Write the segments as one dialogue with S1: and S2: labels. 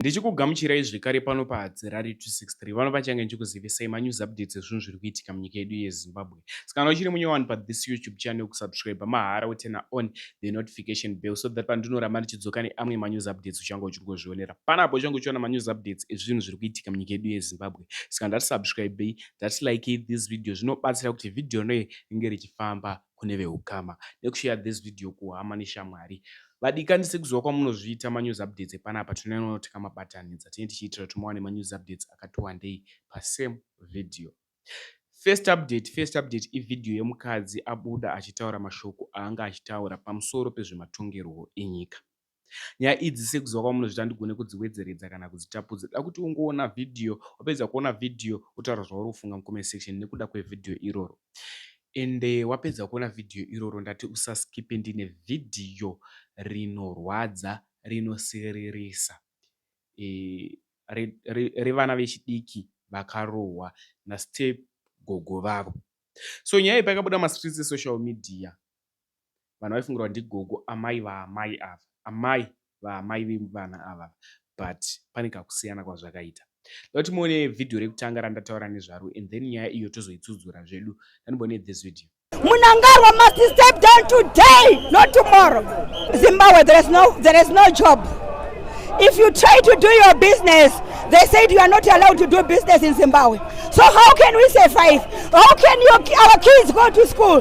S1: Ndichikugamuchirai zvekare pano paHadzirari 263 vano pachange ndichikuzivisai manews updates ezvinhu zviri kuitika munyika yedu yeZimbabwe. Sikana uchiri munyowani pa this YouTube channel kusubscribe mahara wotena on the notification bell so that pandinoramba ndichidzoka neamwe manews updates uchange uchiri kuzvionera. Pana apo uchange uchiona manews updates ezvinhu zviri kuitika munyika yedu yeZimbabwe. Saka ndati subscribei, ndati likei this video zvinobatsira kuti video rinoye ringe richifamba kune vehukama nekushare this video kuhama neshamwari. Vadikani sekuziva kwamunozviita manews updates epanapa tinonyanyo kuti kamabatanidza tine tichiitira kuti muwane manews updates akati wandei pasame video. First update, first update ivideo yemukadzi abuda achitaura mashoko aanga achitaura pamusoro pezvematongerwo enyika. nyaya idzi sekuziva kwamunozvita handigone kudziwedzeredza kana kudzitapudza da kuti ungoona vhidhiyo wapedza kuona vhidhiyo wotaura zvauri kufunga mucomment section nekuda kwevhidhiyo iroro ende wapedza kuona vhidhiyo iroro ndati usaskipe ndine vhidhiyo rinorwadza rinosiririsa e, revana re, re vechidiki vakarohwa nastep gogo vavo so nyaya iyi payakabuda mastreets esocial media vanhu vaifungirwa ndigogo amai vaamai ava amai vaamai vevana ava but pane kakusiyana kwazvakaita dati muone vhidhiyo rekutanga randataura nezvaro and then nyaya iyo tozoitsudzura zvedu tanibone this video munangarwa must
S2: step down today not tomorrow zimbabwe there is no, there is no job if you try to do your business they said you are not allowed to do business in zimbabwe so how can we survive how can your, our kids go to school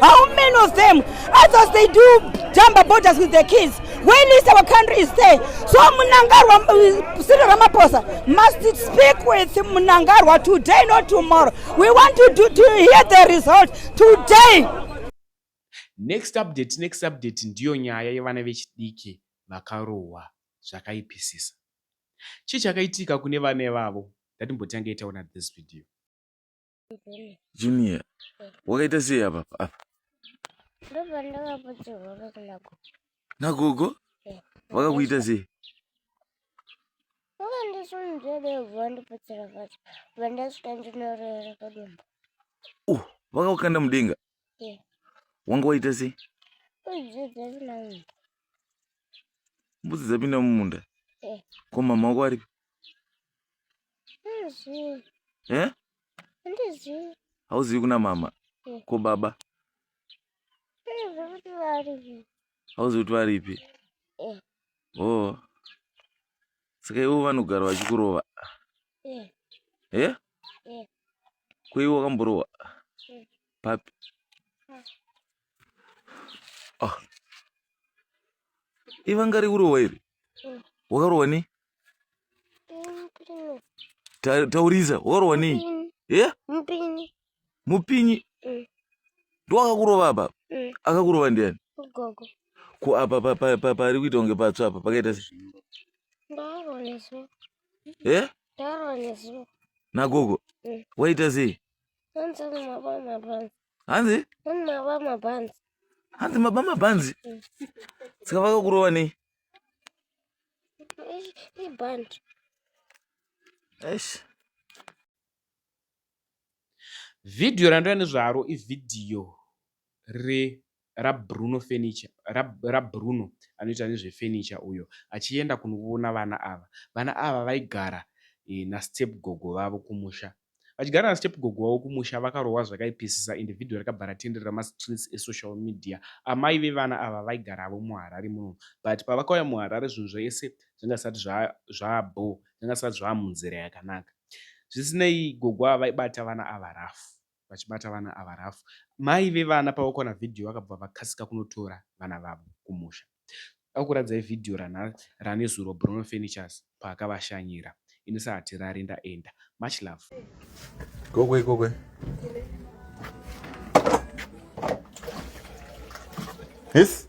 S2: How many of them, as, as they do jumper borders with their kids, when is our country is there? So Munangarwa, uh, Cyril Ramaphosa must speak with Munangarwa today, not tomorrow. We want to, do, to hear the result today.
S1: Next update, next update ndiyo nyaya yevana vechidiki vakarohwa zvakaipisisa. Chii chakaitika kune vana vavo? Ndatimbotange itaona this video. Junior.
S3: Wakaita sei apa apa? Ndobva ndakapoterwa kuna gogo. Na gogo? Eh. Vakakuita sei? Vakandisunzvedevha ndipotsera pacho. Vandasvika ndinorera padumbu. Uh, vakakukanda mudenga? Eh. Wanga waita sei? Mbudzi dzapinda mumunda. Mbudzi dzapinda mumunda? Eh. Ko mama wako aripi? eh? hauzivi kuna mama eh. ko baba hauzivi kuti varipi eh. o oh. saka ivo vanogara vachikurova eh? eh? eh. ko ivo wakamborova eh. papi ah. ivanga rekurohwa iri mm. wakarohwa nei taurisa wakarohwa nei ye mupinyi mm. ndowakakurova apa mm. akakurova ndiani ko apa pari kuita kunge patsva apa pakaita se e nagogo waita sei hanzi hanzi maba mabhanzi saka vakakurova nei eish
S1: vhidhiyo randouya nezvaro ivhidhiyo re raBruno Furniture, ra, raBruno anoita nezvefurniture uyo achienda kunoona vana ava. Vana ava vaigara e, nastep gogo vavo kumusha. Vachigara nastep gogo vavo kumusha vakarohwa zvakaipisisa ende vhidhiyo rakabva ratenderera mastreets esocial media. Amai vevana ava vaigaravo muHarare muno but pavakauya muHarare zvinhu zvese zvanga zvisati zva, zvaabho, zvanga zvisati zvaamunzira yakanaka. Zvisinei, gogo ava vaibata vana ava rafu. vachibata vana ava rough. Mai vevana pavakuona video vakabva vakasika kunotora vana vavo kumusha. Ndakukuradzai video rana ranezuro Bruno Furnitures paakavashanyira. Inisa hatirari ndaenda. Much love. Gokwe
S3: gokwe. Yes.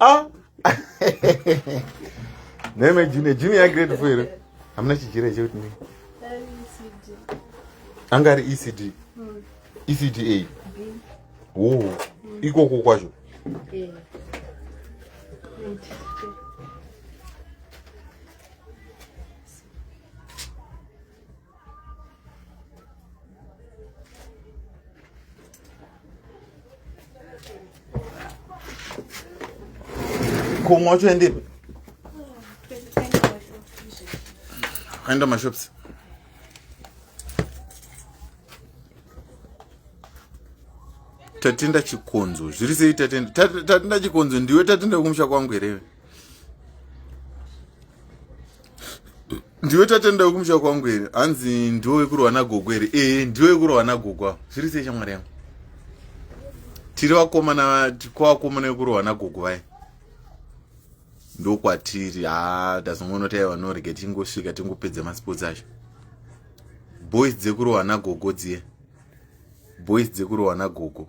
S4: ah. neme junior junior grade four here hamuna chijira chekuti ne anga ari ecd ecd a wo oh. ikoko kwacho kumwa uchiendipi aenda mashops tatenda chikonzo zviri sei tatenda tatenda chikonzo ndiwe tatenda kumusha kwangu here ndiwe tatenda wekumusha kwangu here hanzi ndiwe wekurwa nagogo here ee ndiwe wekurwa nagogo avo zviri sei shamwari yangu tiri vakomana kwakomana wekurwa nagogo vaye ndokwatiri ha tazongoona taiva norege tingosvika tingopedza masports acho boys dzekurohwa nagogo dziye boys dzekurohwa nagogo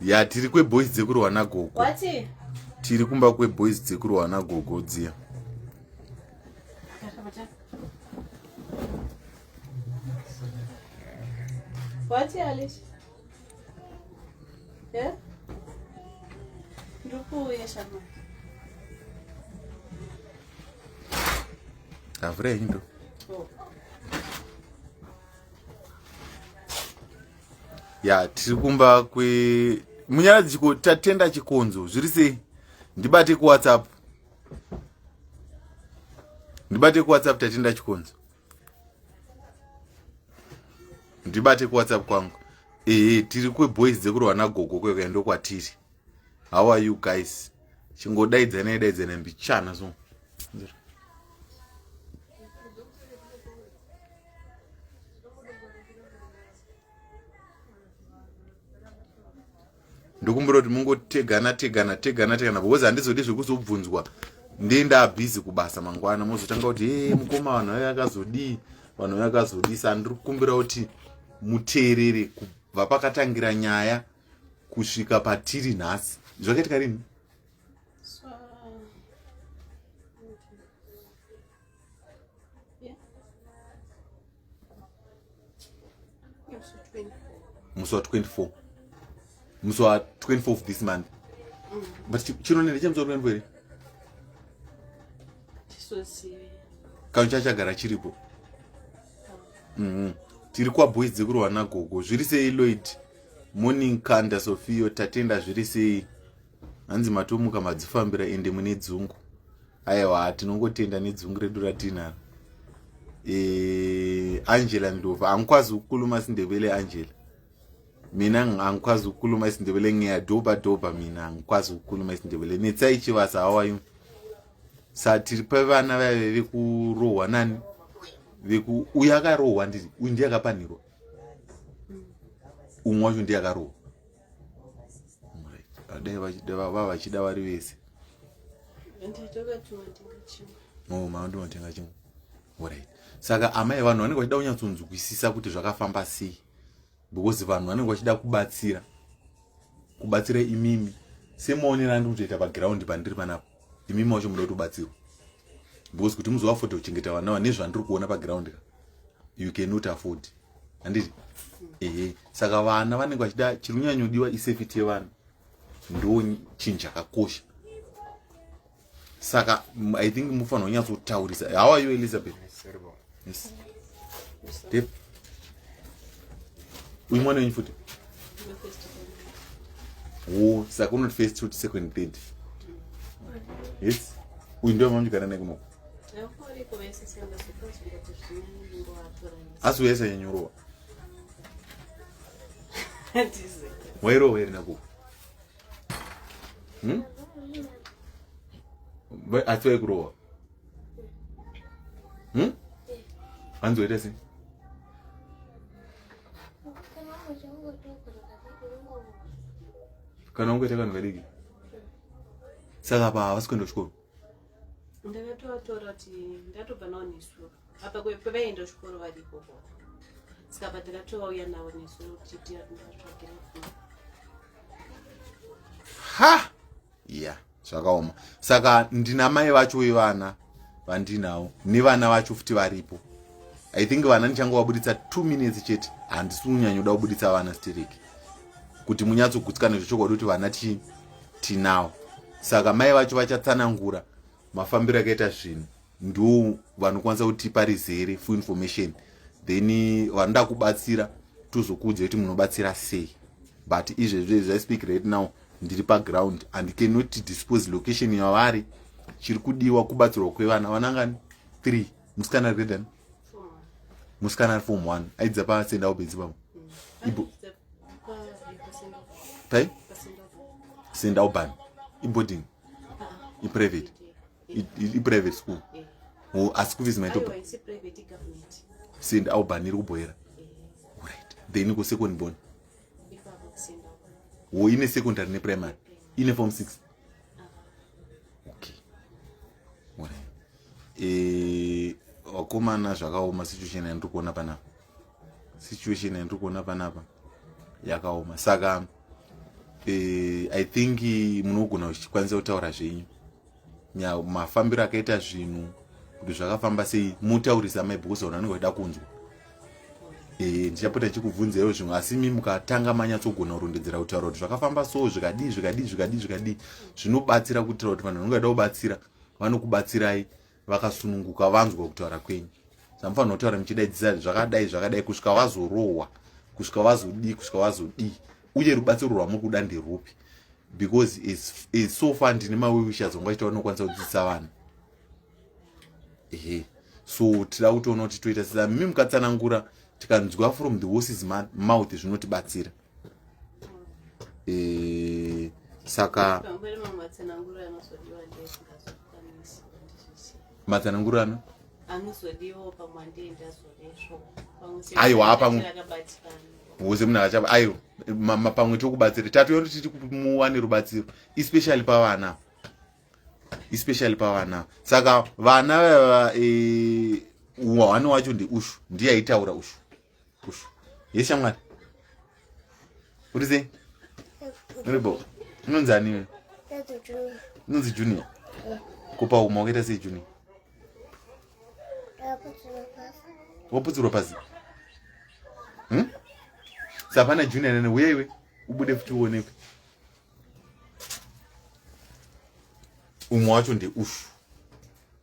S4: ya tiri kweboys dzekurwa nagogo
S5: tiri kumba
S4: kweboys dzekurwa nagogo dziya What,
S5: Alice? Yeah? Ndukuuye
S4: shama. Avure indo. Oh. ya tiri kumba kwe munyaradzi chiko tatenda chikonzo zviri sei ndibate kuwhatsapp ndibate kuwhatsapp tatenda chikonzo ndibate kuwhatsapp kwangu ehe tiri kweboys dzekurwa nagogo kwekuya ndokwatiri how are you guys chingodaidzanai daidzanai mbichana so ndokumbira kuti mungotegana tegana tegana tegana because handizodi zvekuzobvunzwa ndee ndaabhizi kubasa mangwana mozotanga kuti e mukoma vanhu vaye vakazodii vanhu vaye vakazodii sa ndiri kukumbira kuti muteerere kubva pakatangira nyaya kusvika patiri nhasi zvakaitika rini musi wa 24 musi wa 24 of this month mm. but chino nende chemusi wa 24 here kanhu chacho chagara chiripo mm-hmm. tiri kwaboys dzekurohwa nagogo zviri sei loid Morning Kanda Sofio tatenda zviri sei hanzi matomuka madzifambira ende mune dzungu aiwa tinongotenda nedzungu redu ratinaro e, Angela Ndova angikwazi kukuluma sindevele Angela mina angikwazi kukuluma isindevele ngeya doba doba mina angikwazi kukuluma isindevele netsai chivasa hawayu sa tiri pevana vaive vekurohwa nani vekuuya akarohwa ndiri uyu ndiye akapanhirwa umwe wacho ndiye akarohwa dai vava vachida vari vese no mama ndinotenga chimwe orit saka amai vanhu vanenge vachida kunyatsonzwisisa kuti zvakafamba sei because vanhu vanenge vachida kubatsira kubatsira imimi semaonero andikutoita paground pandiri panapa imi macho muda kutobatsirwa because kuti muzoafodha kuchengeta vana vane zvandiri kuona paground ka you cannot afford handiti ehe saka vana vanenge vachida chiri kunyanyodiwa isafety yevana ndo chinhu chakakosha saka i think mufanira kunyatsotaurisa how are you elizabeth Yes. Deep. Uyu mwana wenyu futi? Wo, saka unoti first to second third. Yes. Uyu ndiye mamanyikana naye kunoku. Asi uyesa yenyurowa. Wairowa iri nakuku. Hmm? Asi waikurowa. hmm? hanzi waita sei kana ungoita kanhu kadiki saka pa havasi kuenda kuchikoro
S5: ndakatovatora kuti ndatobva navo nesuro apa pavaenda kuchikoro vari ikoko saka pa ndakatovauya navo nesuro tichitiatsvagirafo
S4: ha yeah zvakaoma saka ndina mai vacho vevana vandinawo nevana vacho futi varipo i think vana ndichange vabuditsa two minutes chete handisi kunyanyoda kubuditsa vana stereki kuti munyatsogutsikana zvechokwadi kuti vana ti tinawo saka mai vacho vachatsanangura mafambiro akaita zvinhu ndo vanokwanisa kutipa rizere full information then eh, vanoda kubatsira tozokuudza kuti munobatsira sei but izvezvi zvi speak right now ndiri paground and cannot dispose location yavari chiri kudiwa kubatsirwa kwevana vanangani three musikana ari kuedani musikana ari form one aidza pasendawo bedzi pamo ibo pai sendawo bani iboding iprivate iprivate school eh. oh, asi kufisi maitoba send aubhaniri kubhoera eh. right then ko second born wo oh, ine secondary neprimary eh. ine form six ah. okay right vakomana zvakaoma situation yandiri kuona panapa situation yandiri kuona panapa yakaoma saka i think munogona kuchikwanisa kutaura zvenyu mafambiro akaita zvinhu kuti zvakafamba sei mutaurisa mai because vanhu vanenge vachida kunzwa eh, ndichapota ndichikubvunzaiwo zvimwe asi mi mukatanga manyatsogona kurondedzera kutaura kuti zvakafamba so zvikadii zvikadii zvikadii zvikadii zvinobatsira kuitira kuti vanhu vanenge vachida kubatsira vanokubatsirai vakasununguka vanzwa kutaura kwenyu zvamufanira kutaura muchidaidzisa zvakadai zvakadai kusvika vazorohwa kusvika vazodii kusvika vazodii uye rubatsiro rwamuri kuda nderupi because so far ndine mawiwisha dzonga chitaura nokwanisa kudzidzisa vanhu ehe so tida kutoona kuti toita sezamimi mukatsanangura tikanzwa from the horses mouth zvinotibatsira e, saka matsanangurano anozodiwo
S5: pamwe andiendazodesvo aiwa
S4: pamwe bhoze munhu akachapa aiwa pamwe tokubatsira tatoyori tiri kumuwane rubatsiro especially pavana especially pavana saka vana vava e, wani wacho ndiushu ndiye aitaura ushu Push. Yes, shamwari. What is it? Uribo. Unonzi ani wewe? Unonzi Junior. Kupa uma wakaita sei Junior? Waputsirwa pasi. Hmm? Sapana Junior nene uye iwe ubude futi uonekwe. Umwe wacho ndi ushu.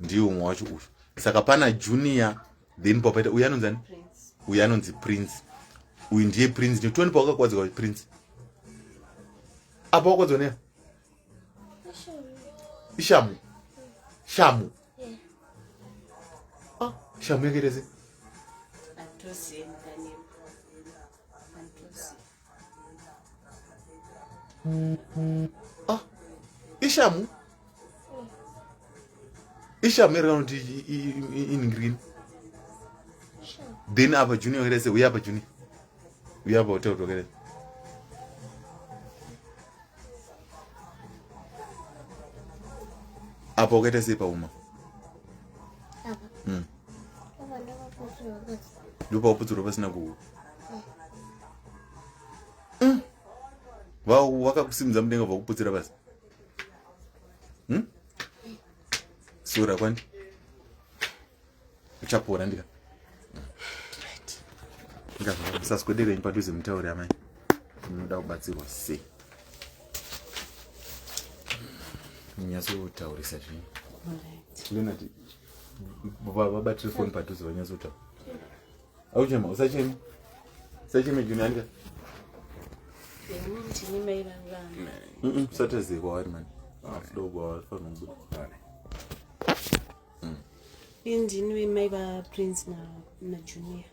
S4: Ndiye umwe wacho ushu. Saka pana Junior then papaita uyu anonzi ani uyu anonzi prince uyu ndiye prince nekuti pawakakwadzwa prince apa wakwadzwa neya ishamu shamu ah, shamu yakaita sei Ah, ishamu ishamu iri kana kuti in green then apa juni wakerese uye apa juni uye apa hotel tokerese apa wakaita sei pauma mm. ndopauputsirwa pasina kuhu mm. vakakusimudza mudenga vakuputsira pasi hmm? sura kwani uchapora ndika ndikasaswederenyi padhuze mutauri amai munoda kubatsirwa sei nyatsotaurisa zvinhu vabatire foni padhuze vanyatsotaura auchema usacheme usacheme junianika usatezekwa wari mani
S5: indini vemai vaprince najunior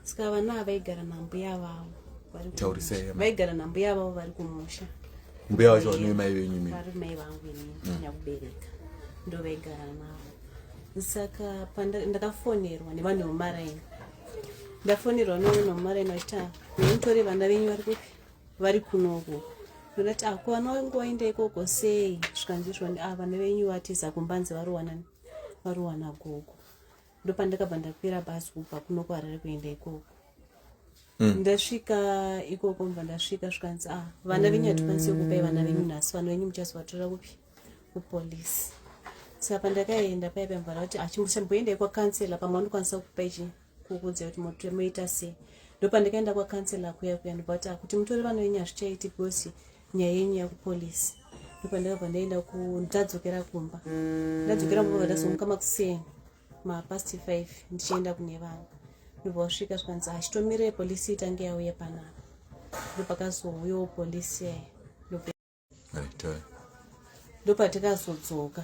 S5: ska vana ava vaigara nambuya vavo taurisai
S4: vaigara nambuya
S5: vavo vari kumusha mbuya vacho
S4: vanoi mai venyu mi vari mai vangu ini
S5: mm. nyakubereka ndo vaigara navo saka ndakafonerwa nevanhu vemumaraini ndafonerwa nevanhu vemumaraini vachiti ah, nemutore vana venyu vari kupi vari kunoko ndodati ako ah, vana vangu vaenda ikoko sei zvikanzizvoni a ah, vana venyu vatiza kumbanzi varowanani varowana gogo ndopandakabva ndakwira bhazi kubva kuno kuharare kuenda ikoko mm. ndasvika ikoko mva ndasvika zvikanzi a ah, vana venyu hatikwanisi kupai vana venyu nhasi vana venyu muchazovatora kupi kupolice saka pandakaenda paya pamvara kuti achimboendai ah, kwakansela pamwe anokwanisa kupai chi kukuudza kuti moita sei ndopandakaenda kwakansela kuya kuya ndobva kuti ah, kuti mutore vana venyu hazvichaiti because nyaya yenyu yakupolisi ndopandakabva ndaenda ku ndadzokera kumba ndadzokera kumba ndazonguka makuseni mapast five ndichienda kune vanhu ndobva wasvika zvikanzi hachitomire polisi itange yauya panapa ndopakazouyawo polisi yaya ndopatikazodzoka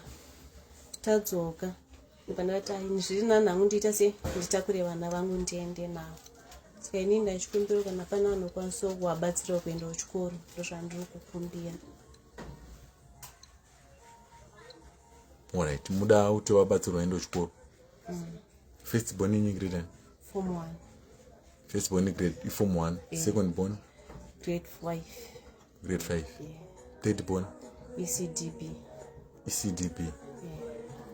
S5: tadzoka Panata ini zviri nani hangu ndiita se nditakure vana vangu ndiende navo saka ini ndachikumbira kana pana vanokwanisawo kuvabatsirawo kuenda kuchikoro ndozvandiri kukumbira
S4: orit muda kuti vabatsirwa enda kuchikoro mm. first born inyi grade form
S5: one first
S4: born grade ifom one yeah. second born grade
S5: five grade 5
S4: yeah. third
S5: born
S4: ecdb
S5: ecdb
S4: yeah.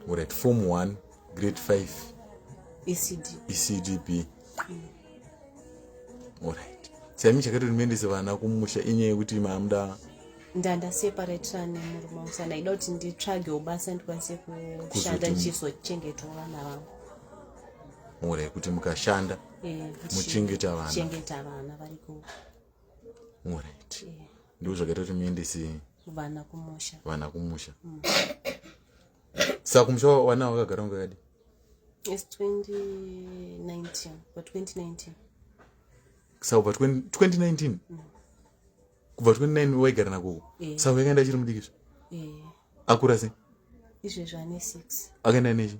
S5: alright form 1
S4: grade 5 ecd ecdb mm. alright chaimi chakatori muendese vana kumusha inyaya yekuti maamuda ndandaseparatira
S5: nemurume wangu sa ndaida kuti nditsvagewo basa ndikwanise kushanda ndichizochengetawo vana vangu
S4: mhura yekuti mukashanda eh, muchengeta vana
S5: vari ku
S4: orit ndiko zvakaita kuti muendese vana kumusha
S5: vana kumusha mm.
S4: saka kumusha vana vakagara ngakadi yes 2019
S5: pa
S4: 2019 saka pa 2019 mm. kubva 29 waigara nakoko eh. saka yakaenda achiri mudikizve eh. akura sei izvezvo ane
S5: six akaenda nechi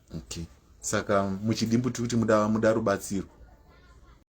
S4: Okay. Saka muchidimbu tiri kuti muda muda rubatsiro.